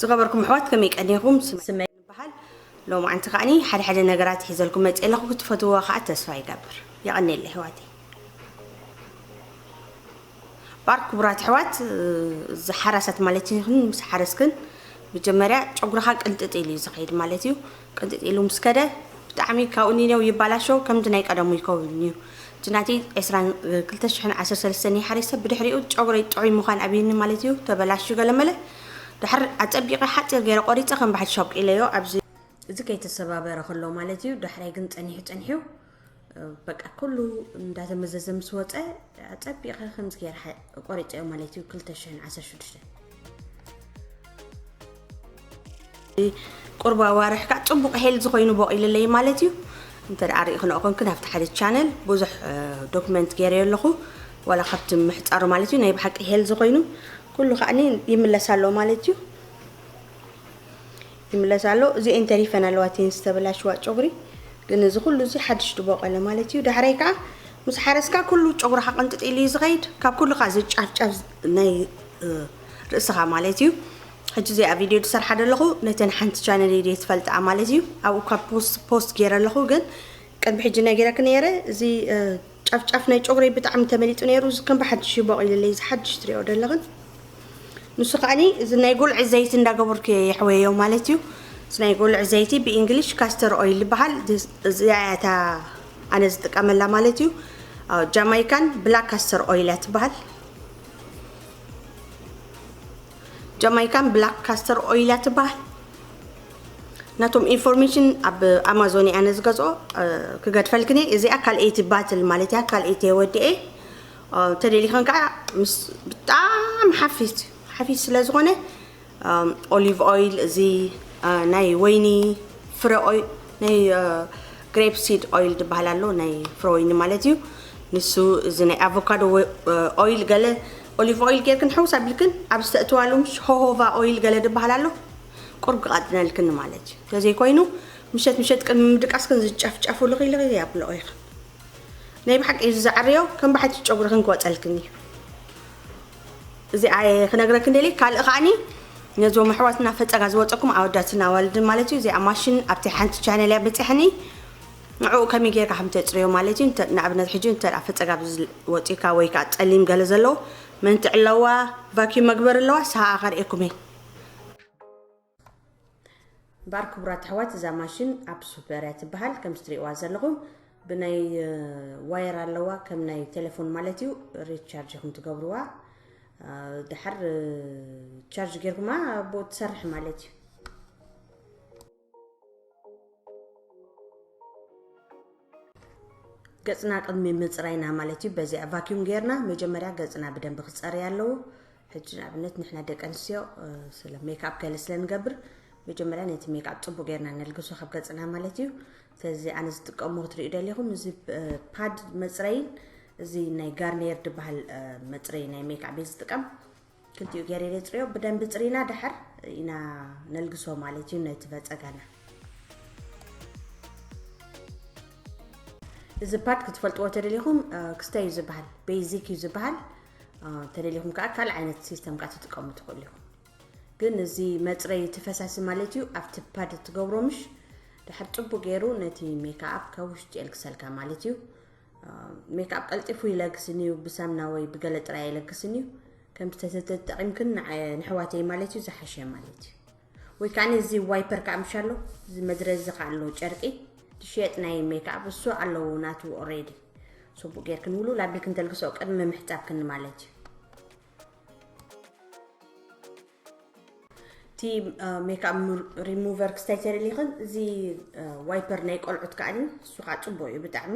ዝኸበርኩም ኣሕዋት ከመይ ቀኒኹም? ስመይ ይበሃል። ሎማዓንቲ ከኣ ሓደ ሓደ ነገራት ሒዘልኩም መጺኤ ኣለኹ። ክትፈትውዋ ከኣ ተስፋ ይገብር። የቐኔለ ኣሕዋተይ። ባር ክቡራት ኣሕዋት እዚ ሓራሳት ማለት ይኹን ምስ ሓረስክን መጀመርያ ጨጉርኻ ቅንጥጥ ኢሉ እዩ ዝኸይድ ማለት እዩ። ቅንጢጥ ኢሉ ምስ ከደ ብጣዕሚ ካብኡ ኒነው ይባላሾ ከምቲ ናይ ቀደሙ ይከውንዩ እቲ ናቲ ዕስራን ክልተ ሽሕን ዓሰርተ ሰለስተን ይሓሪሰ ብድሕሪኡ ጨጉረይ ጥዑይ ምዃን ኣብዩኒ ማለትዩ ተበላሽዩ ገለመለ ድሓር ኣጸቢቀ ሓጺር ገይረ ቆሪጸ ከም ብሓድሽ ኣብቂለዮ ኣብዚ እዚ ከይተሰባበረ ከሎ ማለትዩ ዳሕራይ ግን ጸኒሑ ጸኒሑ በቃ ኩሉ እንዳተመዘዘ ምስ ወፀ ፀቢቐ ከምዚ ገይረ ቆሪፀዮ ማለት እዩ 216 ቁርብ ኣዋርሕ ከዓ ፅቡቕ ሄልዝ ኮይኑ ቦቂልለይ ማለት እዩ እንተ ደኣ ሪኢኽኖ ኮንክን ኣብቲ ሓደ ቻነል ብዙሕ ዶክመንት ገይረዮ ኣለኹ ዋላ ካብቲ ምሕፃሩ ማለት እዩ ናይ ብሓቂ ሄልዝ ኮይኑ ኩሉ ከዓኒ ይምለስ ኣሎ ማለት እዩ ይምለስ ኣሎ እዚኤን ተሪፈን ኣለዋ እቲኤን ዝተበላሽዋ ጨጉሪ ግን እዚ ኩሉ እዚ ሓድሽ ድቦቀለ ማለት እዩ ዳሕራይ ከዓ ምስ ሓረስካ ኩሉ ጨጉርካ ቅንጥጥ ኢሉ እዩ ዝኸይድ ካብ ኩሉ ከዓ ዝጫፍጫፍ ናይ ርእስኻ ማለት እዩ ሕጂ እዚኣ ቪድዮ ዝሰርሓ ዘለኹ ነተን ሓንቲ ቻነል ኢደ ትፈልጥኣ ማለት እዩ ኣብኡ ካብ ፖስት ፖስት ገይረ ኣለኹ ግን ቅድሚ ሕጂ ነጊረክ ነይረ እዚ ጫፍ ጫፍ ናይ ጮግረይ ብጣዕሚ ተመሊጡ ነይሩ እዚ ከም ብሓድሽ እዩ ቦቂልለይ እዚ ሓድሽ ትሪኦ ዘለኽን ንሱ ከዓኒ እዚ ናይ ጉልዒ ዘይቲ እንዳገበርኩ እየ የሕወዮ ማለት እዩ እዚ ናይ ጉልዒ ዘይቲ ብእንግሊሽ ካስተር ኦይል ይበሃል እዚኣ እያ እታ ኣነ ዝጥቀመላ ማለት እዩ ጃማይካን ብላክ ካስተር ኦይል እያ ትበሃል ጃማይካን ብላክ ካስተር ኦይል እያ ትበሃል ናቶም ኢንፎርሜሽን ኣብ ኣማዞን እያ ነዝገዝኦ ክገድፈልክን እየ እዚኣ ካልኣይቲ ባትል ማለት እያ ካልኣይቲ የወድኤ ተደሊኸን ከዓ ምስ ብጣዕሚ ሓፊስ ሓፊስ ስለ ዝኾነ ኦሊቭ ኦይል እዚ ናይ ወይኒ ፍረ ናይ ግሬፕ ሲድ ኦይል ድበሃል ኣሎ ናይ ፍረ ወይኒ ማለት እዩ ንሱ እዚ ናይ ኣቮካዶ ኦይል ገለ ኦሊቭ ኦይል ጌርክን ሕውስ ኣቢልክን ኣብ ዝተእትዋሉ ምሽ ሆሆቫ ኦይል ገለ ድበሃል ኣሎ ቁርብ ክቐጥነልክን ማለት እዩ እንተዘይኮይኑ ምሸት ምሸት ቅድሚ ምድቃስክን ዝጨፍጨፉ ልኺ ልኺ ኣብልኦ ኢኽን ናይ ብሓቂ እዩ ዝዘዕርዮ ከም ባሕቲ ጨጉርኽን ክወፀልክን እዩ እዚኣየ ክነግረክን ደልየ ካልእ ከዓኒ ነዞም ኣሕዋትና ፈፀጋ ዝወፀኩም ኣወዳትን ኣዋልድን ማለት እዩ እዚኣ ማሽን ኣብቲ ሓንቲ ቻነል እያ በፅሐኒ ንዕኡ ከመይ ጌርካ ከም ተፅርዮ ማለት እዩ ንኣብነት ሕጂ እንተ ፈፀጋ ወፂካ ወይ ከዓ ፀሊም ገለ ዘለዎ መንትዕ ኣለዋ ቫኪዩም መግበሪ ኣለዋ ሰሃኣ ከርእየኩም እየ እምበኣር ክቡራት ኣሕዋት እዛ ማሽን ኣፕሱፐር እያ ትበሃል ከምዚ ትሪእዋ ዘለኹም ብናይ ዋየር ኣለዋ ከም ናይ ቴሌፎን ማለት እዩ ሪቻርጅ ኢኹም ትገብርዋ ድሓር ቻርጅ ጌርኩማ ኣብኡ ትሰርሕ ማለት እዩ ገጽና ቅድሚ ምጽራይና ማለት እዩ በዚኣ ቫኪዩም ጌርና መጀመርያ ገጽና ብደንብ ክጸርይ ኣለዎ ሕጂ ንኣብነት ንሕና ደቂ ኣንስትዮ ስለ ሜክኣፕ ገለ ስለ ንገብር መጀመርያ ነቲ ሜክኣፕ ጽቡቅ ጌርና ነልግሶ ካብ ገጽና ማለት እዩ ስለዚ ኣነ ዝጥቀሞ ክትሪኡ ደሊኹም እዚ ፓድ መጽረይን እዚ ናይ ጋርኒየር ድበሃል መጽረይ ናይ ሜክኣፕ እየ ዝጥቀም ክልቲኡ ገይረ የፅርዮ ብደንቢ ፅሪና ድሕር ኢና ነልግሶ ማለት እዩ ነቲ በፀጋና እዚ ፓርት ክትፈልጥዎ ተደሊኹም ክስተ እዩ ዝበሃል ቤዚክ እዩ ዝበሃል ተደሊኹም ከዓ ካልእ ዓይነት ሲስተም ከዓ ትጥቀሙ ትኽእሉ ኢኹም ግን እዚ መፅረይ እቲ ፈሳሲ ማለት እዩ ኣብቲ ፓድ ትገብሮ ምሽ ድሕር ፅቡቅ ገይሩ ነቲ ሜካኣፕ ካብ ውሽጢ የልግሰልካ ማለት እዩ ሜክኣፕ ቀልጢፉ ይለግስን እዩ ብሳምና ወይ ብገለ ጥራይ ኣይለግስን እዩ ከምቲ ተተጠቂምክን ንሕዋተይ ማለት እዩ ዝሓሸ ማለት እዩ ወይ ከዓ እዚ ዋይፐር ከዓ ምሽ ኣሎ እዚ መድረዚ ከዓ ኣሎ ጨርቂ ዝሽየጥ ናይ ሜክኣፕ እሱ ኣለዎ ናቱ ኦሬዲ ጽቡቅ ጌርክን ውሉ ላቢልክን ተልግሰኦ ቅድሚ ምሕጻብክን ማለት እዩ እቲ ሜክኣፕ ሪሙቨር ክስታይ ተደሊኽን እዚ ዋይፐር ናይ ቆልዑት ከዓ እሱ ከዓ ፅቡቅ እዩ ብጣዕሚ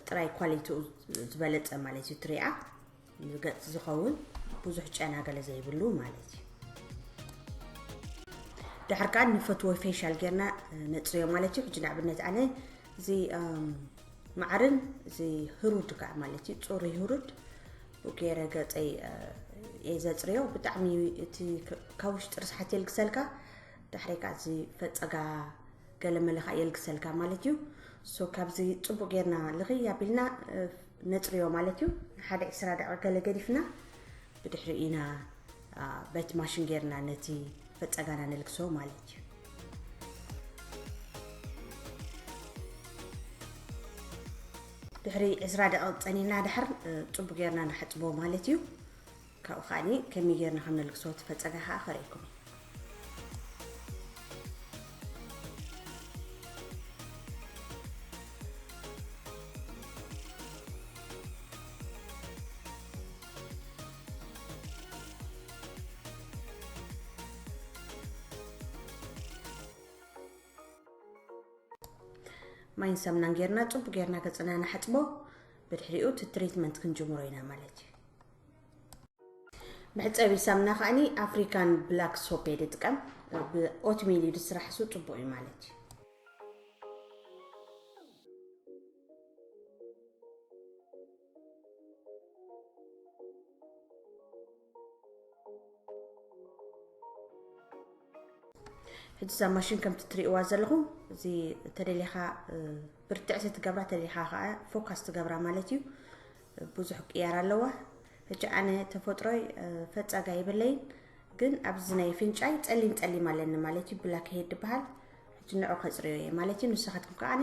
ጥራይ ኳሊቲኡ ዝበለፀ ማለት እዩ ትሪኣ ገፅ ዝኸውን ብዙሕ ጨና ገለ ዘይብሉ ማለት እዩ ድሕር ከዓ ንፈትዎ ፌሻል ጌርና ነፅርዮ ማለት እዩ ሕጂ ንኣብነት ኣነ እዚ መዓርን እዚ ህሩድ ከዓ ማለት እዩ ፅሩይ ህሩድ ገይረ ገፀይ እየ ዘፅርዮ ብጣዕሚ እቲ ካብ ውሽጢ ርስሓት የልግሰልካ ድሕሪ ከዓ እዚ ፈፀጋ ገለመለ ከዓ የልግሰልካ ማለት እዩ ሶ ካብዚ ፅቡቅ ጌርና ልኽይ ኣቢልና ነፅርዮ ማለት እዩ ንሓደ ዒስራ ደቂቅ ገለ ገዲፍና ብድሕሪ ኢና በቲ ማሽን ጌርና ነቲ ፈጸጋና ነልግሶ ማለት እዩ። ድሕሪ ዕስራ ደቂቕ ጸኒና ድሕር ጽቡቅ ጌርና ንሓጽቦ ማለት እዩ ካብኡ ከዓኒ ከመይ ጌርና ከም ነልግሶ ትፈጸጋ ከዓ ከርእይኩም ማይን ሳምናን ጌርና ጽቡቅ ጌርና ገጽና ንሓጽቦ ብድሕሪኡ እቲ ትሪትመንት ክንጅምሮ ኢና ማለት እዩ መሕፀቢ ሳምና ከዓኒ ኣፍሪካን ብላክ ሶፕ እየ ዝጥቀም ብኦትሜል እዩ ዝስራሕ ሱ ፅቡቅ እዩ ማለት እዩ ሕጂ እዛ ማሽን ከምቲ ትሪእዋ ዘለኹም እዚ ተደሊኻ ብርትዕቲ ትገብራ ተደሊኻ ከዓ ፎካስ ትገብራ ማለት እዩ ብዙሕ ቅያር ኣለዋ ሕጂ ኣነ ተፈጥሮይ ፈፃጋ የብለይን ግን ኣብዚ ናይ ፍንጫይ ፀሊም ፀሊም ኣለኒ ማለት እዩ ብላክ ሄድ ዝበሃል ሕጂ ንዑ ከፅርዮ እየ ማለት እዩ ንስኻትኩም ከዓኒ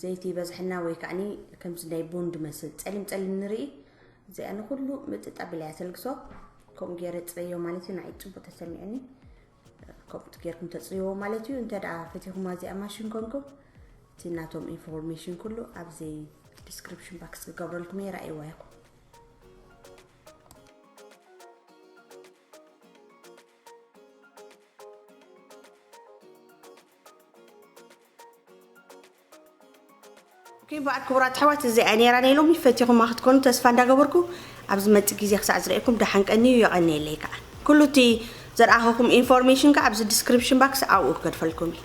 ዘይቲ ይበዝሐና ወይ ከዓኒ ከምዚ ናይ ቡን ድመስል ጸሊም ጸሊም ንርኢ እዚኣ ንኩሉ ምጥጥ ኣቢላያ ተልግሶ ከምኡ ገይረ ጽረዮ ማለት እዩ ንዓይ ጽቡቅ ተሰሚዑኒ ከምኡ ገይርኩም ተጽርይዎ ማለት እዩ እንተ ደኣ ፈቲኹማ እዚኣ ማሽን ኮንኩም እቲ ናቶም ኢንፎርሜሽን ኩሉ ኣብዚ ዲስክሪፕሽን ባክስ ክገብረልኩም እየ ረኣይዋ ይኹም ኦኬ በዓል ክቡራት ኣሕዋት እዚኣ እያ ነይራ ናይ ሎሚ ፈቲኹማ ክትኮኑ ተስፋ እንዳገበርኩ ኣብ ዝመጽእ ግዜ ክሳዕ ዝርእየኩም ደሓን ቀንዩ የቐንየለይ ከዓ ኩሉ እቲ ዘርኣኸኹም ኢንፎርሜሽን ከዓ ኣብዚ ዲስክሪፕሽን ባክስ ኣብኡ ክገድፈልኩም እዩ